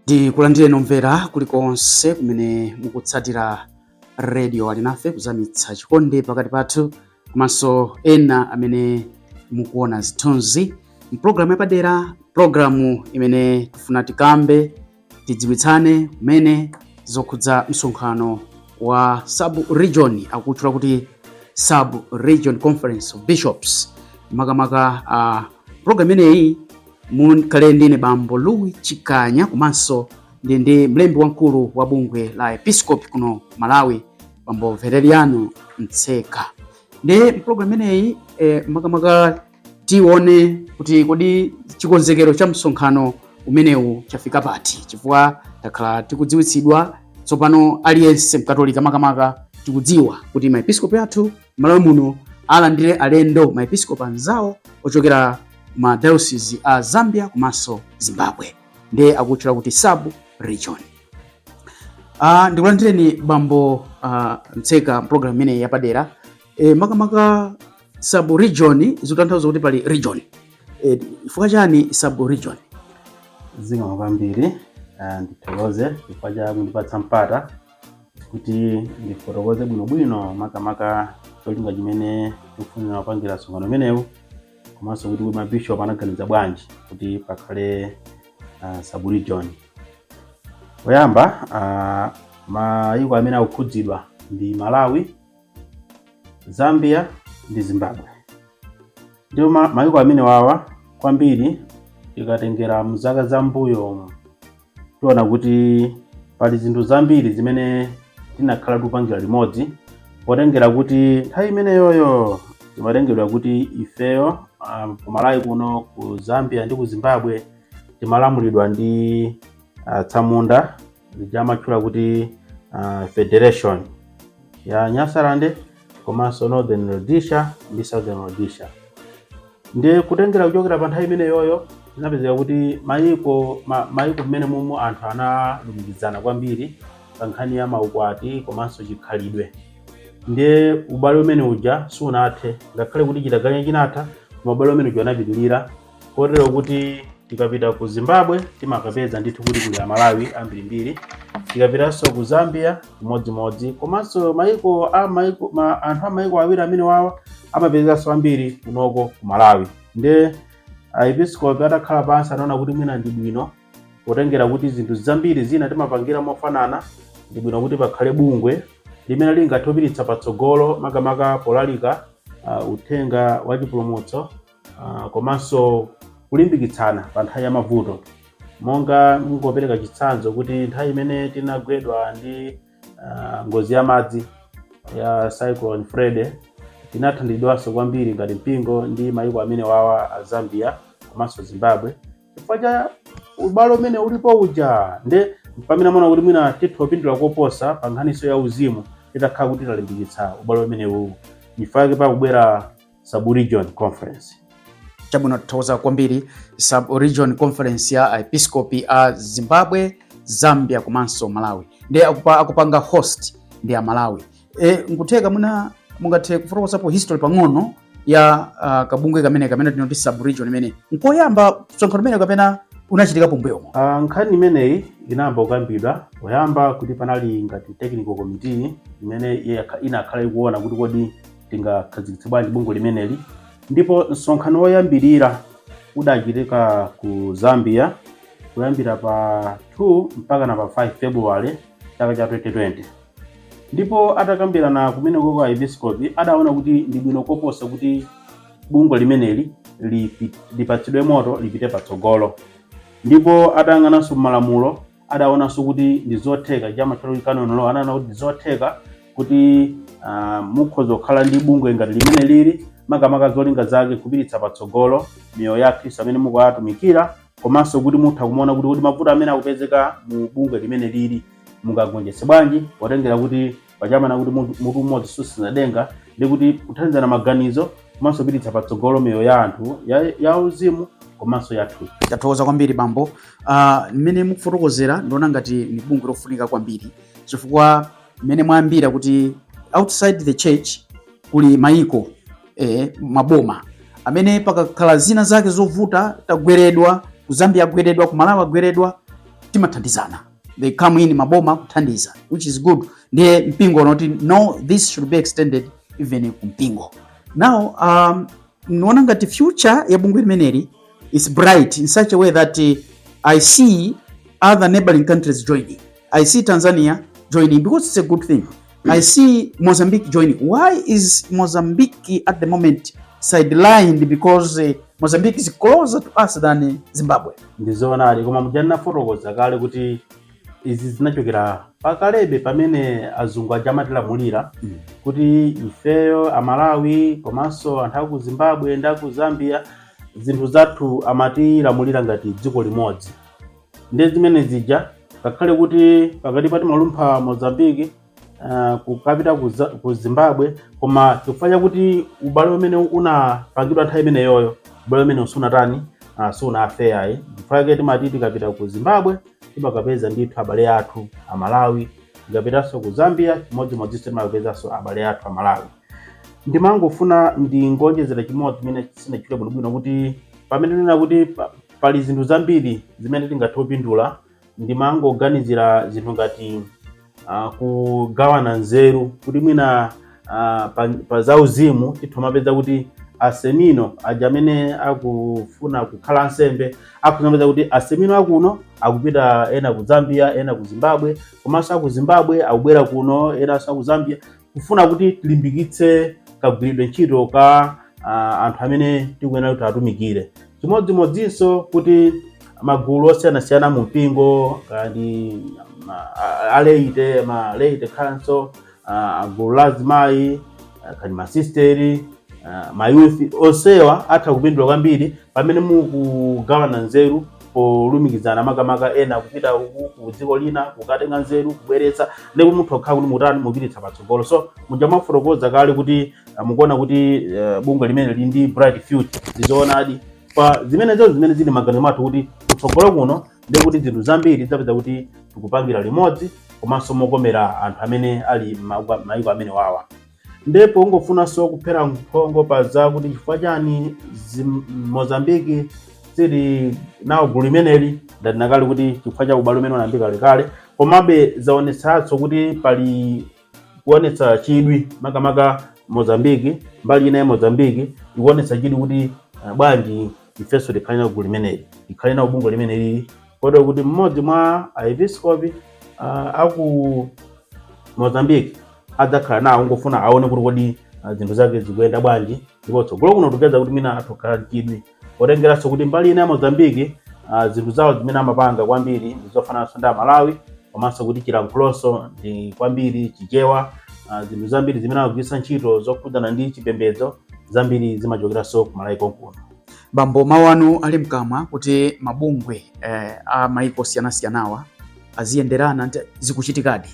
ndikulandire nomvera kulikonse kumene mukutsatira radio alinafe kuzamitsa chikondi pakati pathu komanso ena amene mukuona zithunzi mprogramu yapadera programu imene tifuna tikambe tidziwitsane kumene zokhudza msonkhano wa sub region akutchula kuti sub region conference of bishops makamaka uh, mprogramu imeneyi mukhale ndine bambo louis chikanya komanso ndi ndi mlembi wamkulu wa bungwe la maepiskopi kuno malawi bambo valeriano mtseka ndi mprogramu imeneyi eh, makamaka tione kuti kodi chikonzekero cha msonkhano umenewu chafika pati chifukwa takhala tikudziwitsidwa tsopano aliyense mkatolika makamaka tikudziwa kuti maepiskopi athu mmalawi muno alandire alendo maepiskopi anzawo ochokera ma diocese a zambia komanso zimbabwe ndiye akutchula kuti sub region uh, ndikulandireni bambo uh, mtseka mprogramu imeneyi yapadera e, makamaka sub region zikutanthauza kuti pali region eh, chifukwa chani sub region zikomo kwambiri ah, ndithokoze chifukwa cha kundipatsa mpata kuti ndifotokoze bwinobwino makamaka cholinga chimene tikufunira kupangira msonkhano umenewu komanso kuti kuti mabishop anaganiza bwanji kuti pakhale ah, sub region poyamba ah, mayiko amene akukhudzidwa ndi malawi Zambia ndi Zimbabwe ndipo ma- mayiko amenewawa kwambiri tikatengera mzaka za mbuyomu tiona kuti pali zinthu zambiri zimene tinakhala tikupangira limodzi potengera kuti nthawi imeneyoyo timatengedwa kuti ifeyo um, ku malawi kuno ku zambia ndi ku zimbabwe timalamulidwa ndi atsamunda ija amatchula kuti uh, federation ya nyasalande komanso northern rhodesia ndi southern rhodesia ndiye kutengera kuchokera pa nthawi imeneyoyo tinapezeka kuti mayiko ma, mayiko amenewowa anthu analumikizana kwambiri pa nkhani ya maukwati komanso chikhalidwe ndiye ubale umene uja siunathe ngakhale kuti chitaganya chinatha koma ubale umene uja unapitilira kotero kuti tikapita ku zimbabwe timakapeza ndithu kuti kuli amalawi ambirimbiri tikapitanso ku zambia kumodzimodzi komanso maiko a maiko ma, anthu a maiko awiri amene wawa amapezekanso ambiri kunoko ku malawi nde aepiskopi atakhala pansi anaona kuti mwina ndi bwino potengera kuti zinthu zambiri zina timapangira mofanana ndi bwino kuti pakhale bungwe limene lingathe kupititsa patsogolo makamaka polalika uh, uthenga wa chipulumutso uh, komanso kulimbikitsana pa nthawi ya mavuto monga kungopereka chitsanzo kuti nthawi imene tinagwedwa ndi uh, ngozi ya madzi ya cyclone Freddy tinathandidwanso kwambiri ngati mpingo ndi mayiko amene wawa a Zambia komanso Zimbabwe chifukwa cha ubale umene ulipo uja nde pamene amaona kuti mwina titha kupindula koposa pa nkhaniso ya uzimu titakhala kuti talimbikitsa ubale umene uwu chifukwa chake pakubwera sub-region conference. Chabwino, tithokoza kwambiri. Sub-region conference ya aepiskopi a Zimbabwe, Zambia komanso Malawi ndi akupa, akupanga host ndi a Malawi. E, nkutheka mwina mungathe kufotokozapo history pang'ono ya uh, kabungwe kamene kamene tikuti sub-region imeneyi nkoyamba msonkhano umenewu kapena unachitika pombuyomo? Uh, nkhani imeneyi inayamba kukambidwa poyamba kuti panali ngati technical committee imene inakhala ikuona kuti kodi tingakhazikitse bwanji bungwe limeneli ndipo msonkhano woyambirira udachitika ku zambia kuyambira pa 2 mpaka na pa 5 february chaka cha 2020 ndipo atakambirana kumeneko ko aepiskopi adaona kuti ndi bwino koposa kuti bungwe limeneli lipi- lipatsidwe moto lipite patsogolo ndipo atayang'ananso malamulo adaonanso kuti ndi zotheka ija amatchula kuti canon law adaona kuti ndi zotheka kuti ah, mukhoza kukhala ndi bungwe ngati limene lili makamaka zolinga zake kupititsa patsogolo miyoyo ya akhristu amene mukuwatumikira komanso kuti mutha kumaona kuti kodi mavuto amene akupezeka mu bungwe limene lili mungagonjetse bwanji potengera kuti paja amanena kuti mutu mutu umodzi susenza denga ndi kuti kuthandizana maganizo komanso kupititsa patsogolo miyoyo ya anthu ya, ya uzimu komanso ya thupi tathokoza kwambiri bambo Ah, mmene mukufotokozera ndiona ngati ni bungwe lofunika kwambiri chifukwa mmene mwayambira kuti outside the church kuli mayiko eh, maboma amene pakakhala zina zake zovuta tagweredwa ku zambia agweredwa ku malawi agweredwa timathandizana they come in maboma kuthandiza which is good ndiye mpingo unati no this should be extended even ku mpingo now um, naona ngati future ya bungwe limeneli is bright in such a way that uh, i see other neighboring countries joining i see tanzania joining because it's a good thing I see Mozambique joining. Why is Mozambique at the moment sidelined? Because uh, Mozambique is closer to us than uh, Zimbabwe. ndizoonadi koma muja ndinafotokoza kale kuti izi zinachokera pakalebe pamene azungu aja amatilamulira Mm. kuti ifeyo amalawi komanso anthu aku zimbabwe ndi aku zambia zinthu zathu amatilamulira ngati dziko limodzi ndiye zimene zija ngakhale kuti pakati pati malumpha mozambiki uh, kukapita ku Za- ku zimbabwe koma chifukwa chakuti ubale umene unapangidwa nthawi imeneyoyo ubale umene sunatani uh, sunafe ayi chifukwa chake timati tikapita ku zimbabwe timakapeza ndithu abale athu amalawi tikapitanso ku zambia chimodzimodzinso timakapezanso abale athu amalawi ndimangofuna ndingonjezera chimodzi chimene sindinachitire bwinobwino kuti pamene ndinena kuti pa- pali zinthu zambiri zimene tingathe kupindula ndimangoganizira zinthu ngati ah, kugawana nzeru kuti mwina ah, pa, pa zauzimu titha kumapeza kuti asemino aja amene akufuna kukhala ansembe akudzapeza kuti asemino akuno akupita ena ku zambia ena ku zimbabwe komanso aku zimbabwe akubwera kuno enanso aku zambia kufuna kuti tilimbikitse kagwiridwe ntchito ka uh, anthu amene tikuyenera kuti atumikire chimodzimodzinso kuti magulu osiyanasiyana mu mpingo ngati ma- a- aleite ma laity council ah, gulu la azimayi ah, kaya ndi masisteri ah, mayuthi onsewa atha kupindula kwambiri pamene mukugawana nzeru polumikizana makamaka ena kupita uku ku dziko lina kukatenga nzeru kubweretsa ndipo mutha kukhala kuti mutani mupititsa patsogolo so muja mwafotokoza kale kuti ah, mukuona kuti eh, bungwe limeneli lili ndi bright future ndizoonadi pa zimenezo zimene zili m'maganizo mwathu kuti kutsogolo kuno ndi kuti zinthu zambiri tidzapeza kuti tikupangira limodzi komanso mokomera anthu amene ali m'maiko- m'maiko amene wawa ndipo kungofunanso kuphera mphongo pa zakuti chifukwa chani mozambiki sili nawo m'gulu limeneli ndanena kale kuti chifukwa cha ubale umene unayambika kalekale komabe zaonetsanso kuti pali kuonetsa chidwi makamaka mozambiki mbali ina ya mozambiki ikuonetsa chidwi kuti uh, bwanji ifenso tikhale nawo m'gulu limeneli tikhale nawo m'bungwe limeneli kotero kuti mmodzi mwa aepiskopi ah, aku mozambique adzakhala nawo kungofuna aone kuti kodi ah, zinthu zake zikuyenda bwanji ndipo kutsogolo kuno tipeza kuti mwina atha kukhala ndi chidwi potengeranso kuti mbali ina ya mozambique ah, zinthu zawo zimene amapanga kwambiri ndi zofanananso ndi amalawi komanso kuti chilankhulonso ndi kwambiri chichewa ah, zinthu zambiri zimene amagwiritsa ntchito zokhudzana ndi chipembedzo zambiri zimachokeranso kumalawi konkuno bambo mawu anu ali mkamwa kuti mabungwe eh, a maiko osiyanasiyanawa aziyenderana ndi zikuchitikadi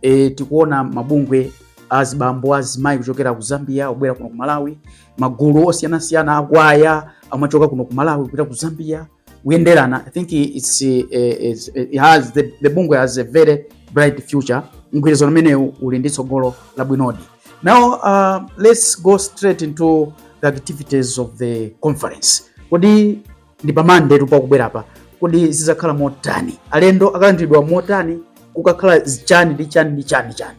e, tikuona mabungwe azibambo azimayi kuchokera ku zambia obwera kuno ku malawi magulu osiyanasiyana akwaya amachoka kuno ku malawi kupita ku zambia kuyenderana i think it's, eh, it's, it has the, the bungwe has a very bright future mgwirizano umenewu uli ndi tsogolo labwinodi now uh, let's go straight into the activities of the conference kodi ndi pa Mande tu pakubwerapa kodi zidzakhala motani alendo akalandiridwa motani kukakhala chani ndi chani ndi chani chani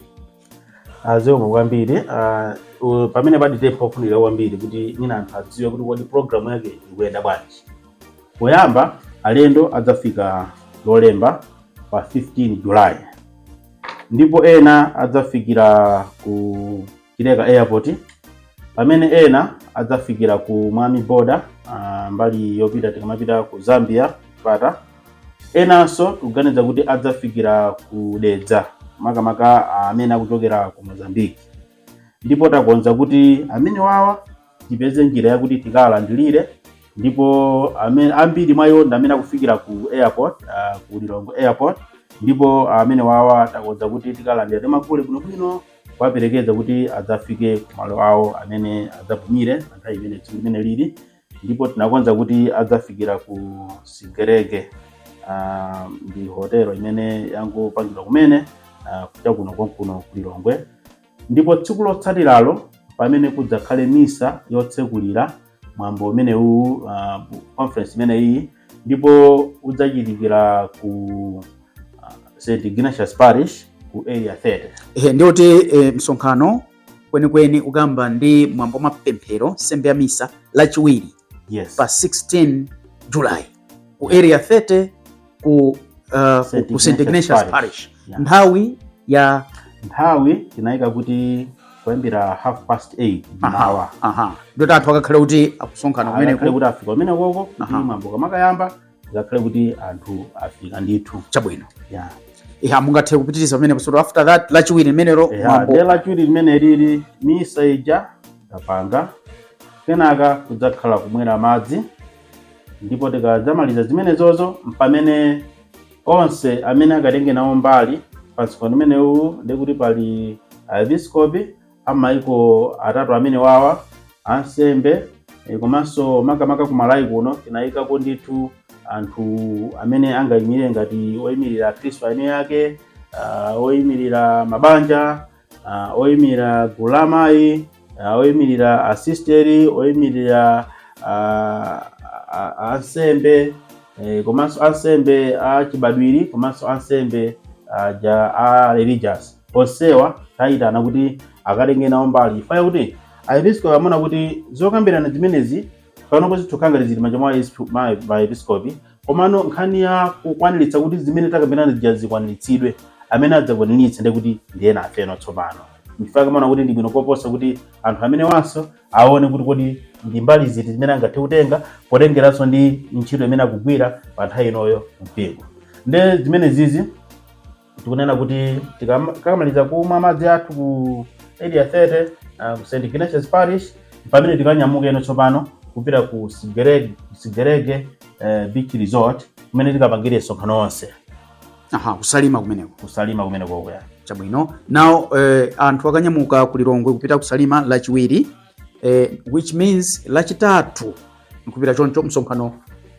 Ah, zikomo kwambiri Ah, u- pamene palitepo kufunira kwambiri kuti mwina anthu adziwe kuti kodi programu yake ikuyenda bwanji poyamba alendo adzafika lolemba pa 15 july ndipo ena adzafikira ku chileka airport pamene ena adzafikira ku mwami border ah, mbali yopita tikamapita ku zambia pata Enanso tikuganiza kuti adzafikira ku Dedza makamaka amene akuchokera ku Mozambique ndipo takonza kuti amenewawa tipeze njira yakuti tikalandilire ndipo ambiri mwa iwo ndi amene akufikira ku airport uh, ku Lilongwe airport ndipo amenewawa takonza kuti tikalandira tiwatakule bwinobwino kuwaperekeza kuti adzafike ku malo awo amene adzapumire nthawi imene tsiku limenelili ndipo tinakonza kuti adzafikira ku sigerege ah, ndi hotelo imene yangopangidwa kumene ah, kucha kuno komkuno ku lilongwe ndipo tsiku lotsatiralo pamene kudzakhale misa yotsekulira mwambo umenewu ah, conference imeneyi ndipo udzachitikira ku ah, st ignatius parish ku area 30 Ehe, ndiye kuti eh, msonkhano kwenikweni ukayamba ndi mwambo wa mapemphero nsembe ya misa lachiwiri yes pa 16 july ku area 30 ku, uh, ku, St. ku st Ignatius ignatius Parish. parish Yeah. nthawi ya nthawi tinayika kuti kuyambira half past 8 mawa aha ndiye kuti anthu akakhale kuti akusonkhana kumeneko kuti afika kumenekoko kuti Aha. mwambo ukamakayamba kakhale kuti anthu afika ndithu chabwino yeah. ya mungathe kupitiriza pamene so after that lachiwiri limenelo yeah, mwambo ndiye lachiwiri limenelili misa ija tapanga kenaka kudzakhala kumwera madzi ndipo tikadzamaliza zimenezozo mpamene onse amene akatenge nawo mbali pa msonkhano umenewu ndikuti pali aepiskopi a m'maiko atatu amenewawa ansembe eh, komanso makamaka ku malawi kuno tinayikako ndithu anthu amene angayimirire ngati oyimirira akhristu eni ake ah, oyimirira mabanja ah, oyimirira gulu la amayi ah, oyimirira asisteri oyimirira ah, a- a- ansembe eh, komanso ansembe a chibadwiri komanso ansembe aja a religious Onsewa tayitana kuti akatenge nawo mbali chifukwa chakuti aepiskopi amaona kuti zokambirana zimenezi panopo zitha kukhala ngati zili m'manja mwa aesp- ma- maepiskopi komano nkhani ya kukwaniritsa kuti zimene takambirana zija zikwaniritsidwe amene adzakwaniritse ndi kuti ndi enafe nono tsopano nchifukwa amaona kuti ndi bwino koposa kuti anthu amenewanso aone kuti kodi ndi mbali ziti zimene angathe kutenga potengeranso ndi ntchito imene akugwira pa nthawi inoyo mumpingo nde zimene zizi tikunena kuti tikakamaliza kumwa madzi athu ku area 30 uh, ku st ignatius parish pamene tikanyamukano tsopano kupita ku sigerege sigerege uh, beach resort kumene tikapangire msonkhano onse aha ku salima kumeneko ku salima kumeneko eya chabwino now eh, anthu akanyamuka ku lilongwe kupita ku salima lachiwiri eh, which means lachitatu nkupita choncho msonkhano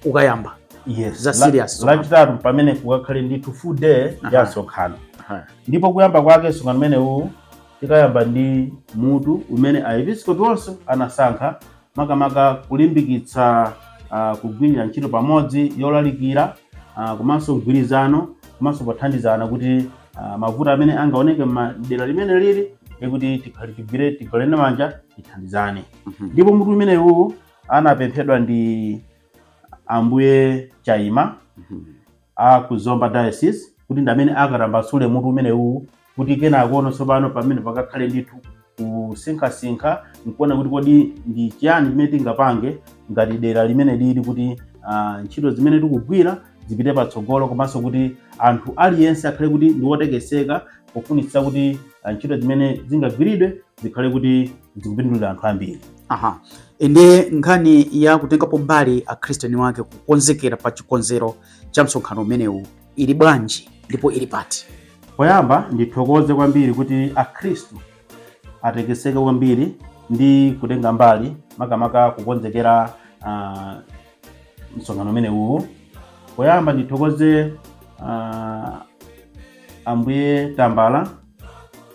ukayamba yes Za serious, so- lachitatu pamene kukakhale ndithu full day Aha. ya msonkhano Aha. ndipo kuyamba kwake msonkhano umenewu tikayamba ndi mutu umene aepiskopi onse anasankha makamaka kulimbikitsa uh, kugwirira ntchito pamodzi yolalikira uh, komanso mgwirizano komanso pothandizana kuti uh, mavuto amene angaoneke m'dera limeneli kuti tikhale tigwire tigwirane manja tithandizane Mhm. ndipo mutu umenewu anapemphedwa ndi ambuye chaima Mhm. a ku zomba diocese kuti ndi amene akatambasule mutu umenewu kuti kenako no tsopano pamene pakakhale ndithu kusinkhasinkha nkuona kuti kodi ndi chiyani chimene tingapange ngati dera limeneli kuti ah, ntchito zimene tikugwira zipite patsogolo komanso kuti anthu aliyense akhale kuti ndi wotekeseka pofunitsitsa kuti ah, ntchito zimene zingagwiridwe zikhale kuti zikupindulira anthu ambiri aha ende nkhani ya kutengapo mbali akhristu eni ake kukonzekera pa chikonzero cha msonkhano umenewu ili bwanji ndipo ili pati poyamba ndithokoze kwambiri kuti akhristu atekeseka kwambiri ndi kutenga mbali makamaka kukonzekera ah, msonkhano umenewu poyamba ndithokoze ah, ambuye tambala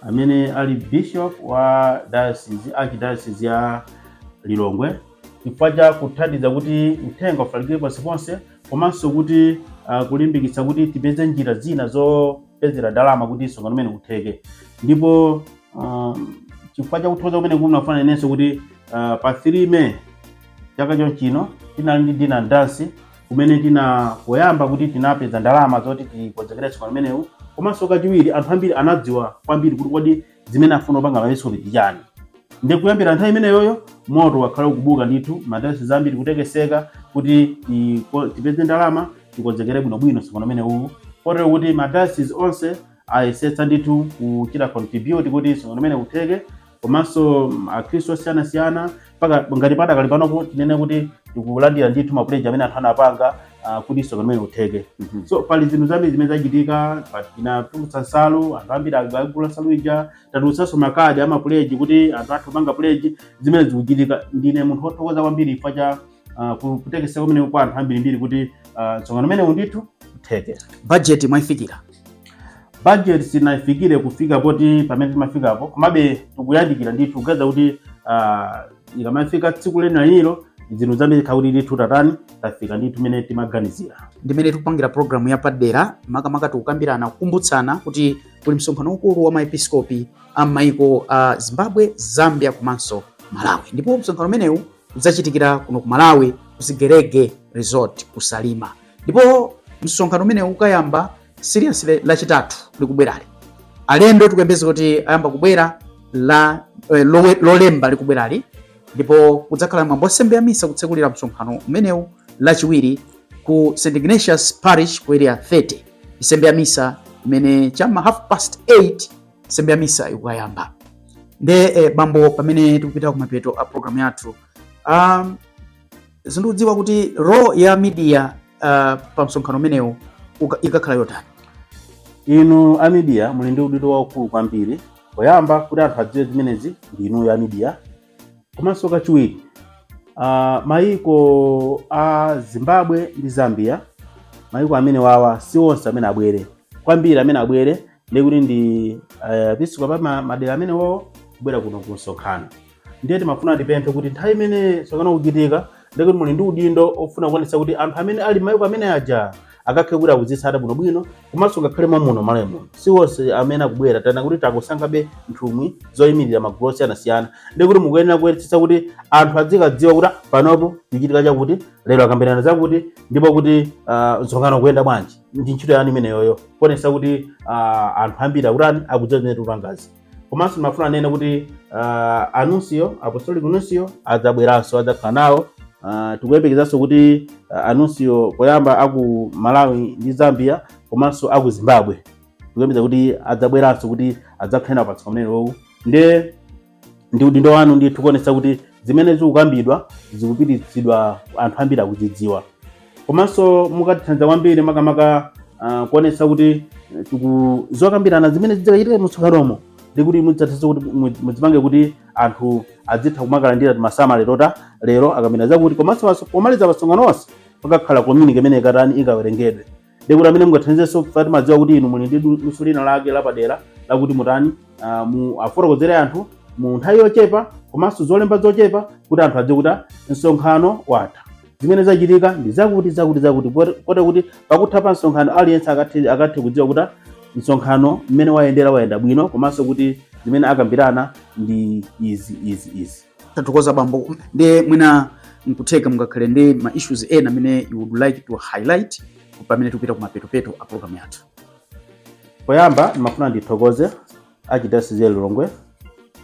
amene ali bishop wa diocese archdiocese ya lilongwe chifukwa cha kuthandiza kuti uthenga ufalikire ponseponse komanso kuti uh, kulimbikitsa kuti tipeze njira zina zopezera ndalama kuti msonkhano umenewu utheke ndipo um, chifukwa cha kuthokoza kumeneku ndifuna ndinenenso kuti uh, pa 3 may chaka chonchino tinali ndi dinner dance kumene tina poyamba kuti tinapeza ndalama zoti tikonzekere msonkhano umenewu komanso kachiwiri anthu ambiri anadziwa kwambiri kuti kodi zimene afuna kupanga maepiskopi ndi chani ndi kuyambira nthawi imeneyoyo moto wakhala ukubuka ndithu madayosizi ambiri kutekeseka kuti tiko- tipeze ndalama tikonzekere bwinobwino msonkhano umenewu kotero kuti madayosizi onse ayesetsa ndithu kuchita contribute kuti msonkhano umene utheke komanso mm, akhristu osiyanasiyana mpaka ngati padakali panopo tinene kuti tikulandira ndithu mapuleji amene anthu anapanga ah, kuti msonkhano umene utheke Mhm. so pali zinthu zambiri zimene zachitika pa- tinatulutsa nsalu anthu ambiri agula nsalu ija tatulutsanso makadi amapuleji kuti anthu athe kupanga puleji zimene zikuchitika ndine munthu wothokoza kwambiri chifukwa cha uh, ku- kutekeseka kumene kwa anthu ambirimbiri kuti uh, msonkhano umenewu ndithu utheke budget mwaifikira budget sitinaifikire kufika poti pamene timafikapo komabe tikuyandikira ndithu kuganiza kuti ah, ikamafika tsiku lenileniro zinthu zambiri kuti ndithu tatani tafika ndithu mene timaganizira ndimene tikupangira programu yapadera makamaka tikukambirana kukumbutsana kuti kuli msonkhano waukulu wa maepiskopi a maiko a zimbabwe zambia komanso malawi ndipo msonkhano umenewu udzachitikira kuno ku malawi ku sigelege resort ku salima ndipo msonkhano umenewu ukayamba seriously lachitatu likubwerali alendo tikuyembeza kuti ayamba kubwera la eh, lowe- lolemba likubwerali ndipo kudzakhala mwambo wa nsembe ya misa kutsekulira msonkhano umenewu lachiwiri ku st ignatius parish ku area 30 nsembe ya misa imene chama half past 8 nsembe ya misa ikukayamba nde eh, bambo pamene tikupita kumapeto a program yathu um, sindikudziwa kuti role ya media uh, pa msonkhano umenewu uka- ikakhala yotani inu amidiya muli ndi udindo waukulu kwambiri poyamba kuti anthu adziwe zimenezi ndi inuyo amidiya komanso kachiwiri uh, mayiko a zimbabwe ndi zambia mayiko amenewawa si onse amene abwere kwambiri amene abwere ndiye kuti ndi eh, maepiskopi pa ma- madera amenewo kubwera kuno ku msonkhano ndiye timafuna tipemphe kuti nthawi imene msonkhano ukuchitika ndiye kuti muli ndi udindo ofuna kuonetsa kuti anthu amene ali maiko amene aja akakhale kuti akuzitsata bwinobwino komanso ngakhale mwathu muno malawi muno si onse amene akubwera tana kuti takusankhabe nthumwi zoyimirira magulu osiyanasiyana ndi kuti mukuyenera kuonetsetsa kuti anthu azikadziwa kuti panopo kukuchitika chakuti lero akambirana zakuti ndipo kuti ah, msonkhano ukuyenda bwanji ndi ntchito yanu imeneyoyo kuonesa kuti ah, anthu ambiri akutani akudziwa zimene tikupangazi komanso ndimafuna ninene kuti ah, anunsiyo apostolic nuncio adzabweranso adzakhala nawo Ah, tikuyembekezanso kuti ah, anunsiyo poyamba aku malawi ndi zambia komanso aku zimbabwe tikuyembeza kuti adzabweranso kuti adzakhala nawo pa msonkhano umenewowu nde ndi udindo wanu ndithu kuonetsa kuti zimene zikukambidwa zikupititsidwa anthu ambiri akuzidziwa komanso mukatithandiza kwambiri makamaka ah, kuonetsa kuti eh, tiku- zokambirana zimene zidzakachitika mu msonkhanomo ndi kuti mudzathandiza kuti mu- mudzipange kuti anthu adzitha kumakalandira timasamale ta lero akambirana zakuti komanso maso- pomaliza pa msonkhano onse pakakhala komunike imene ikatani ikawerengedwe ndi kuti amene mungathandizenso fact imadziwa kuti inu muli ndi du- luso lina lake lapadera lakuti mutani ah, mu afotokozere anthu mu nthawi yochepa komanso zolemba zochepa kuti anthu adziwe kuti ah, msonkhano watha zimene zachitika ndi zakuti zakuti zakuti kote- kote kuti pakutha pa msonkhano aliyense akathe akathe kudziwa kuti ah, msonkhano mmene wayendera wayenda bwino komanso kuti zimene akambirana ndi izi izi izi tathokoza bambo ndiye mwina nkutheka mungakhale ndi ma issues ena amene you would like to highlight pamene tikupita ku mapetopeto a program yathu poyamba ndimafuna ndithokoze archdiocese ya lilongwe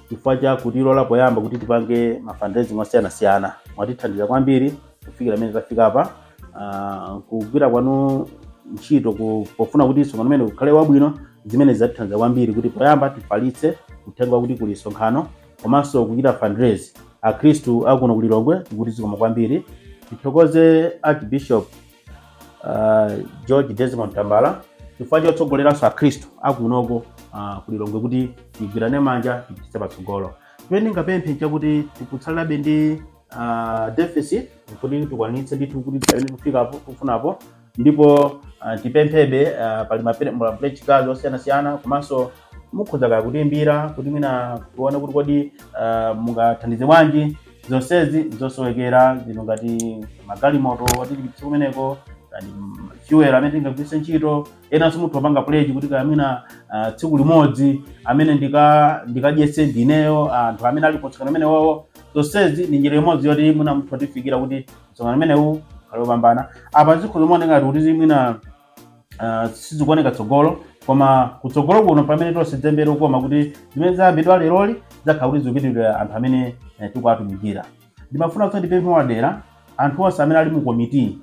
chifukwa cha kutilola poyamba kuti tipange ma fundraising osiyanasiyana mwatithandiza kwambiri kufikira pamene tafika apa Ah, kugwira kwanu ntchito ku- pofuna kuti msonkhano umene ukhale wabwino zimene zatithandiza kwambiri kuti poyamba tifalitse uthenga wakuti kuli msonkhano komanso kuchita fundraise akhristu akuno ku lilongwe tikuti zikomo kwambiri tithokoze archbishop uh, george desmond tambala chifukwa chotsogoleranso akhristu akunoko uh, ku lilongwe kuti tigwirane manja tipititse patsogolo chimene ndingapemphe nchakuti tikutsalirabe ndi uh, deficit kuti tikwanitse ndithu kuti pamene tikufikapo tikufunapo ndipo uh, tipemphebe uh, pali ma pledge cards osiyanasiyana komanso mukhoza kaya kutiimbira kuti mwina tione kuti kodi uh, mungathandize bwanji zonsezi zosowekera zino ngati magalimoto otipititsa kumeneko kaya ndi fuel amene tingagwiritse ntchito enanso mutha kupanga pledge kuti kaya mwina uh, tsiku limodzi amene ndika ndikadyetse ndineyo anthu amene ali ku msonkhano umenewowo zonsezi ndi njira imodzi yoti mwina mutha kutifikira kuti msonkhano umenewu ukhale wopambana apa zikhoza kumaoneka ngati kuti zimwina ah, sizikuoneka tsogolo koma kutsogolo kuno pamene tonse tidzamvere kukoma kuti zimene zayambidwa leroli zakhala kuti zikupindulira anthu amene eh, tikuwatumikira ndimafuna kuti ndipemphe mwadera anthu onse amene ali mu komiti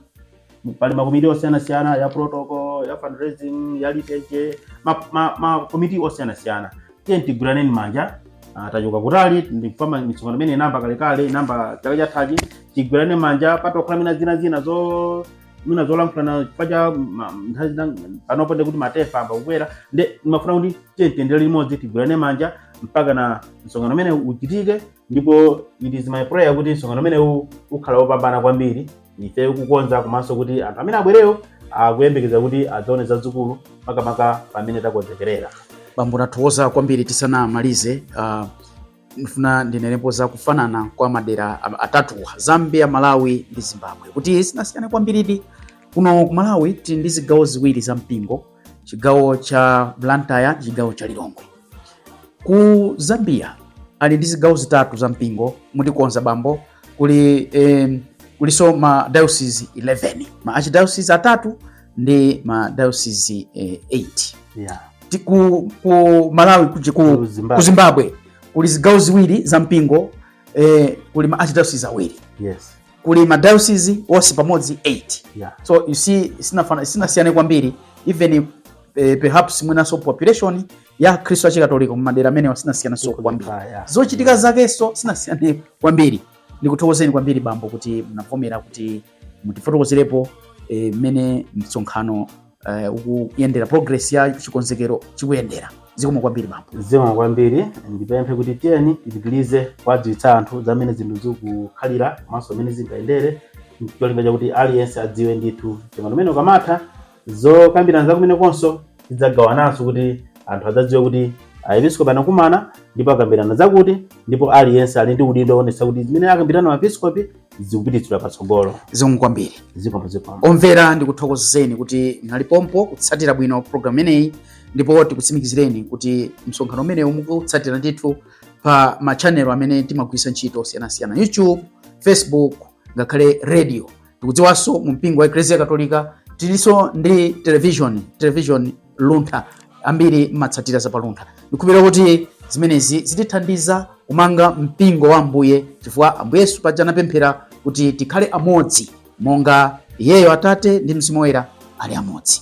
pali makomiti osiyanasiyana ya protocol ya fundraising ya liturgy ma, ma, ma komiti osiyanasiyana tiyeni tigwiraneni manja Ah, tachoka kutali ndikufama misonkhano imene inayamba kalekale inayamba chaka chathachi tigwirane manja patokhala mina zina zina zo mina zolankhulana chifukwa cha ma- nthawi zina panopo ndi kuti ma temper ayamba kukwera ndi ndimafuna kuti tiyeni tiyendere limodzi tigwirane manja mpaka na msonkhano umene uchitike ndipo it is my prayer kuti msonkhano umene u- ukhala wopambana kwambiri ife kukonza komanso kuti anthu amene abwerewo akuyembekeza kuti adzaone zazikulu makamaka pamene takonzekerera bambo nathokoza kwambiri tisanamalize uh, ndifuna ndinenepo za kufanana kwa madera a- atatuwa zambia malawi ndi zimbabwe kuti sanasiyane kwambiridi kuno ku malawi tili ndi zigawo ziwiri za mpingo chigawo cha blantyre ndi chigawo cha lilongwe ku zambia ali ndi zigawo zitatu za mpingo mutikonze bambo kuli eh, kuliso ma diocese 11 ma archdiocese atatu ndi ma diocese eh, 8 Yeah. Ti- ku, ku malawi kuji ku, Ku Zimbabwe. ku zimbabwe kuli zigawo ziwiri za mpingo eh, kuli ma archdiocese awiri Yes. kuli ma diocese onse pamodzi 8 Yeah. so you see sinafanana- sinasiyane kwambiri even eh, perhaps mwinanso population ya Akristo a Chikatolika mu madera amenewa sinasiyananso kwambiri, zochitika zakenso sinasiyane kwambiri. Ndikuthokozeni kwambiri bambo kuti munavomera kuti mutifotokozerepo eh, mmene e, msonkhano e, ukuyendera, progress ya chikonzekero chikuyendera. Zikomo kwambiri bambo. Zikomo kwambiri, ndipemphe kuti tiyeni tipitirize kuwadziwitsa anthu za mmene zinthu zikukhalira komanso mmene zingayendere, cholinga chakuti aliyense adziwe ndithu komanso mmene ukamatha Zokambirana za kumenekonso tidzagawananso kuti anthu adzadziwe kuti aepiskopi anakumana ndipo akambirana zakuti ndipo aliyense ali ndi udindo woonetsa kuti zimene akambirana maepiskopi zikupititsidwa patsogolo zikomo kwambiri zikomo zikomo omvera ndikuthokozeni kuti munali pompo kutsatira bwino programu imeneyi ndipo tikutsimikizireni kuti msonkhano umenewu muutsatira ndithu pa machanelo amene timagwiritsa ntchito osiyanasiyana youtube facebook ngakhale radio tikudziwanso mu mpingo wa eklesia katolika tilinso ndi television television luntha ambiri mmatsatira za paluntha ndikhulupira kuti zimenezi zitithandiza kumanga mpingo wa ambuye chifukwa ambuye yesu paja anapemphera kuti tikhale amodzi monga iyeyo atate ndi mzimu woyera ali amodzi